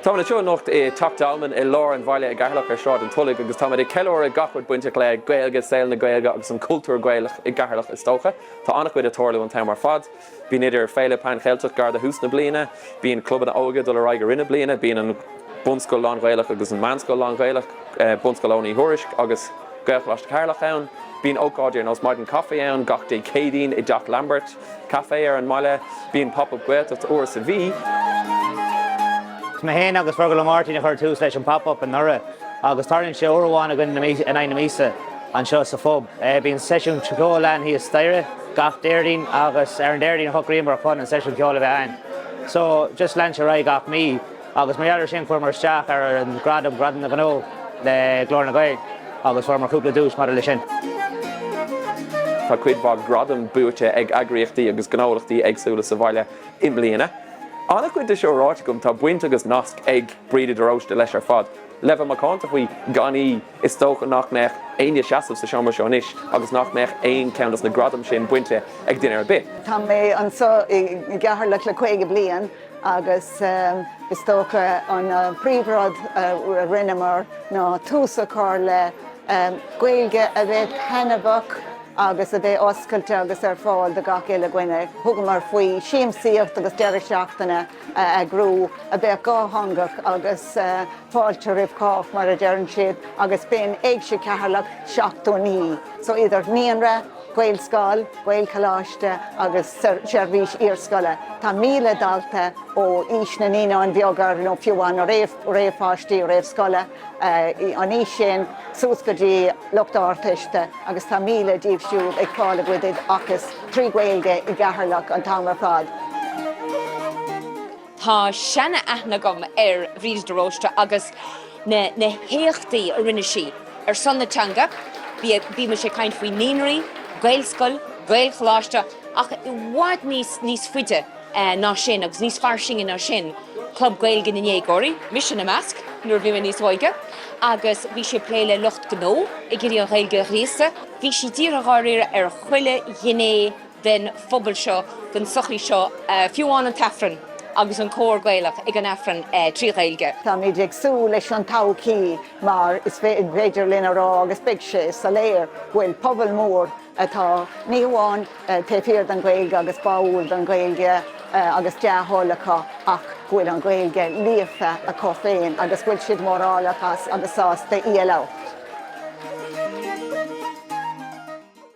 Táimid anseo anocht i dTeach Dolmain i lár an bhaile i gCeatharlach ar Sráid an Tulaigh agus táimid ag ceiliúradh gach rud bainteach le Gaeilge, saol na Gaeilge agus an cultúr Gaelach i gCeatharlach is dócha. Tá an-chuid ag tarlú an t-am ar fad. Bíonn idir Féile Pan Cheilteach gar do thús na bliana, bíonn clubanna óige ag dul ar aghaidh i rith na bliana, bíonn an bunscoil lán-Ghaelach agus an meánscoil lán-Ghaelach, Bunscoil Eoghain Uí Thuairisc agus Gaelcholáiste Cheatharlach ann. Bíonn ócáidí ar nós maidin caife ann gach Dé Céadaoin i dTeach Lambert. Caifé ar an mbaile. Bíonn Pop Up Gaeltacht uair sa mhí. Mé féin agus Fergal Ó Máirtín a chuir tús leis an Pop Up anuraidh agus tarlaíonn sé uair amháin againn in aghaidh na míosa anseo sa phub. Bíonn seisiún ceoil ann thíos staighre gach Déardaoin agus ar an Déardaoin a shocraíomar chun an seisiún ceoil a bheith ann. So, just lean sé ar aghaidh gach mí. Agus mar gheall ar sin, chuireamar isteach ar an nGradam, Gradam na nGnó le Glór na nGael agus fuaireamar cúpla duais maidir leis sin. Tá cuid mhaith gradam buaite ag eagraíochtaí agus gnólachtaí éagsúla sa bhaile i mbliana. An-chuid de seo ráite agam, tá baint agus nasc ag Bríde de Róiste leis ar fad. Le bheith macánta faoi, gan í, is dócha nach mbeadh éinne seasamh sa seomra seo anois agus nach mbeadh aon cheann dos na gradaim sin bainte ag duine ar bith. Tá mé anseo i gCeatharlach le caoga bliain. agus is dócha an príomhrud a rinneamar ná tús a chur le Gaeilge a bheith taitneamhach agus a bheith oscailte agus ar fáil do gach uile dhuine. Thugamar faoi shiamsaíocht agus deireadh seachtaine a eagrú a bheadh dhátheangach agus. fáilte roimh chách, mar a deireann siad, agus b'in Éigse Cheatharlach 79. So idir naíonra, Gaelscoil, Gaelcholáiste agus seirbhís iarscoile, tá 1,000 dalta ó aois na naíonáin bheaga nó fiú amháin na réamhpháistí réamhscoile, an aois sin suas go dtí lucht Ardteiste agus tá 1,000 díobh siúd ag fáil a gcuid oideachais trí Ghaeilge i gCeatharlach an t-am ar fad. Tá seana-aithne agam ar Bhríd de Róiste agus na na héachtaí a rinne sí ar son na teanga. Bímis ag caint faoi naíonraí, Gaelscoil, Gaelcholáiste ach i bhfad níos níos faide ná sin agus níos fairsinge ná sin, Club Gaeilge na ndéagóirí, mise ina measc nuair a bhí mé níos óige agus bhí sí ag plé le lucht gnó ag iarraidh an Ghaeilge a ghríosadh. Bhí sí dírithe dháiríre ar chuile ghné den phobal seo, den tsochaí seo, fiú amháin an tAifreann agus an cór Gaelach ag an Aifreann trí Ghaeilge. Táimid ag súil leis an todhchaí mar is féidir linn a rá, agus beidh sé soiléir, go bhfuil pobal mór atá ní hamháin taobh thiar den Ghaeilge agus báúil don Ghaeilge agus dea-thoil acu ach go bhfuil an Ghaeilge líofa acu féin agus go bhfuil siad mórálach as agus sásta í a labhairt.